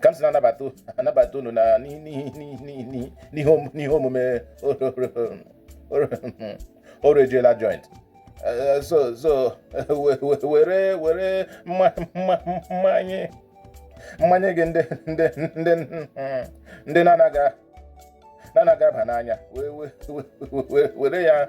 ka m si na-anabata unu na n'ihe omume oru ejiela joint eh, so were mmanye gị ndị na-anaghị aba n'anya were ya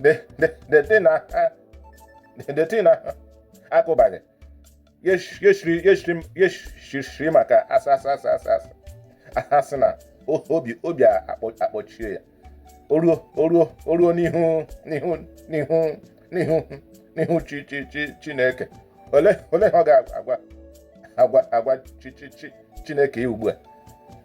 the the the thing na the thing na akụbaghị yeshiri maka asa asa asa asa asa asị na obi obi akpọchie ya oruo oruo oruo n'ihu n'ihu n'ihu n'ihu n'ihu chi chi chi chineke ole ole ha ọ ga-agwa agwa agwa chi chi chi chineke ya ugbu a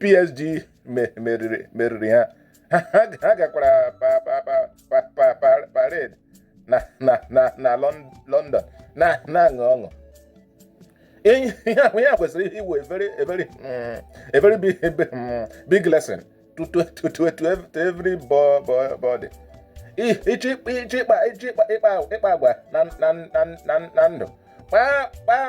PSG meriri ha ha gakwara parade na London na-aṅụ ọṅụ ihe a kwesịrị ịwụ a very big lesson to everybody ị chọọ ịkpa agwa na ndụ kpaa kpaa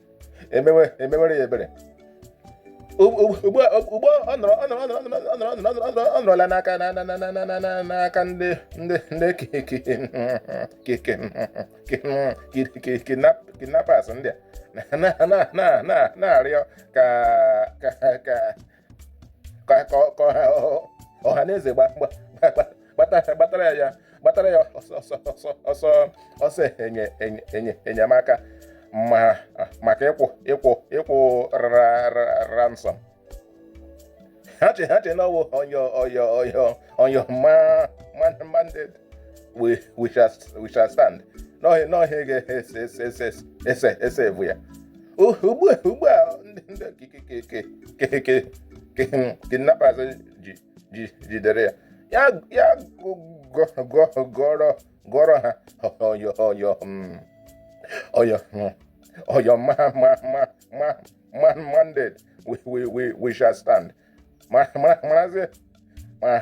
emewere ya ebere ugbu ọ nọrọla n'aka ndị kidnappers ndị a na-arịọ ka ka ọha na eze gbatara ya gbatara ya ọsọ ọsọ enyemaka maka ịkwụ ịkwụ ịkwụ ransom ha che ha che na ọwụ ọyọ ọyọ ọyọ ọyọ ma mandate we we shall we shall stand n'ọhịa n'ọhịa ga-ese ese ese ese evu ya ugbu a ugbu a ndị ndị kike- kike- kike- kike- kike- kidnappers ji ji jidere ya ya ya gụ- gụ- gụ- gụọrọ gụọrọ ha ọyọ ọyọ mm, ọyọ mm, ọyọ ma ma ma ma ma mandate we we we we shall stand ma ma maazị ma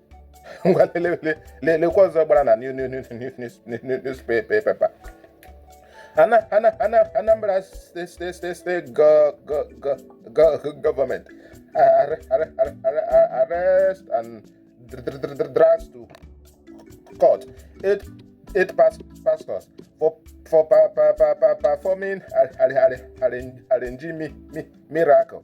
ngwa lekwa ọzọ gbara na newspaper Anambra steeti gọọmenti arrest and drags to court eight eight pastors for for performing arranging miracle.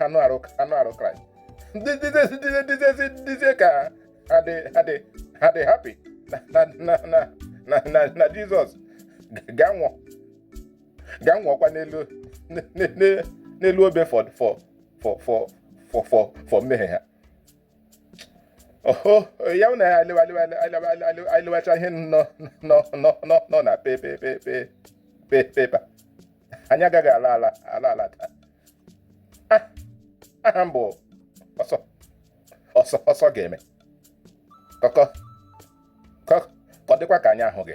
anụ arụ Kraịst dịzie ka ha dị happy na Jizọs ga-anwụọkwa n'elu obe for mmehie ha ya na alịwacha ihe nọ na pepa anyị agaghị ala ala taa, aha m bụ ọsọ ga-eme ka ọ dịkwa ka anyị ahụ gị